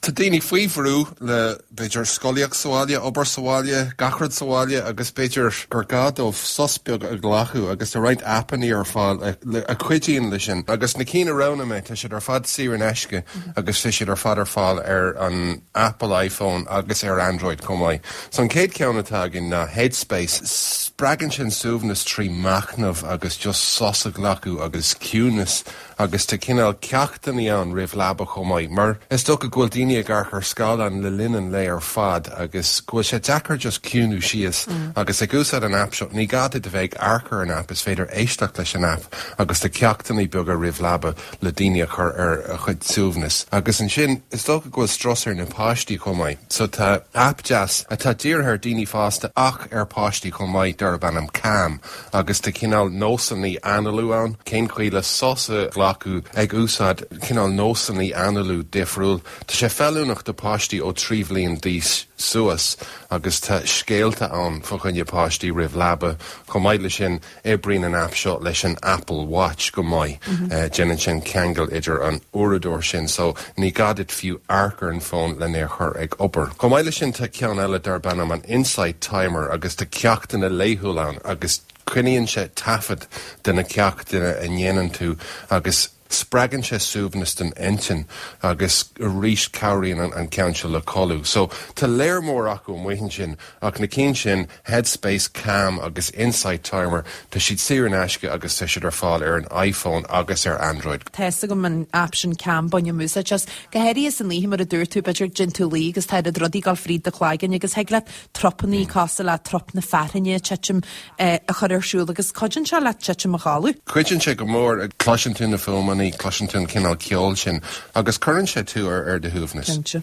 Tá daoine faoi bhrú le, b'fhéidir, scolaíocht sa bhaile, obair sa bhaile, gach rud sa bhaile agus b'fhéidir gur gá dóibh sos beag a ghlacadh agus tá roinnt aipeanna ar fáil a chuidíonn leis sin. Agus na cinn a roghnaigh mé, tá siad ar fad saor in aisce agus tá siad ar fad ar fáil ar an Apple iPhone agus ar Android chomh maith. So an chéad cheann atá againn ná Headspace. Spreagann sin suaimhneas trí mhachnamh agus just sos a ghlacadh agus ciúnas. agus tá cineál ceachtanna ann roimh leaba chomh maith mar is dócha go bhfuil daoine ag amharc ar scáileáin le linn an lae ar fad agus go bhfuil sé deacair just ciúnú síos agus ag úsáid an aip seo. Ní gá duit a bheith ag amharc ar an aip, is féidir éisteacht leis an aip agus tá ceachtanna beaga roimh leaba le daoine a chur ar a chuid suaimhneas. Agus ansin is dócha go bhfuil strus ar na páistí chomh maith so tá aip deas atá dírithe ar daoine fásta ach ar páistí chomh maith darb ainm Calm. Agus tá cineál nósanna analú ann, cén chaoi le sos a ghlacadh ag úsáid cineál nósanna analú difriúil. Tá sé feiliúnach do páistí ó trí bhliain d'aois suas agus tá scéalta ann fá choinne páistí roimh leaba. Chomh maith leis sin, oibríonn an aip seo leis an Apple Watch go maith. Déanann sin ceangal idir an uaireadóir sin so Ní gá duit fiú amharc ar an fón len é a chur ag obair. Chomh maith leis sin, tá ceann eile darb ainm an Insight Timer agus tá ceachtanna laethúla ann agus coinníonn sé taifead de na ceachtanna a dhéanann tú agus spreagann sé suaimhneas don intinn agus arís cabhraíonn an ceann seo le codladh. So, tá lear mór acu amuigh ansin ach na cinn sin, Headspace, Calm agus Insight Timer, tá siad saor in aisce agus tá siad ar fáil ar an iPhone agus ar Android. Tá a fhios agam an aip sin Calm, bainim úsáid as, go háirithe san oíche mar a dúirt tú, b'fhéidir i ndiaidh tú luí agus tá oiread rudaí ag dul fríd do chloigeann agus thig leat trupannaí cosúil le trup na fearthainne ag titim, a chur ar siúl agus cuidíonn sé leat titim a chodladh. Cuidíonn sé go mór, cloiseann tú na fuaimeannaí, cloiseann tú an cineál ceoil sin agus cuireann sé tú ar do shuaimhneas.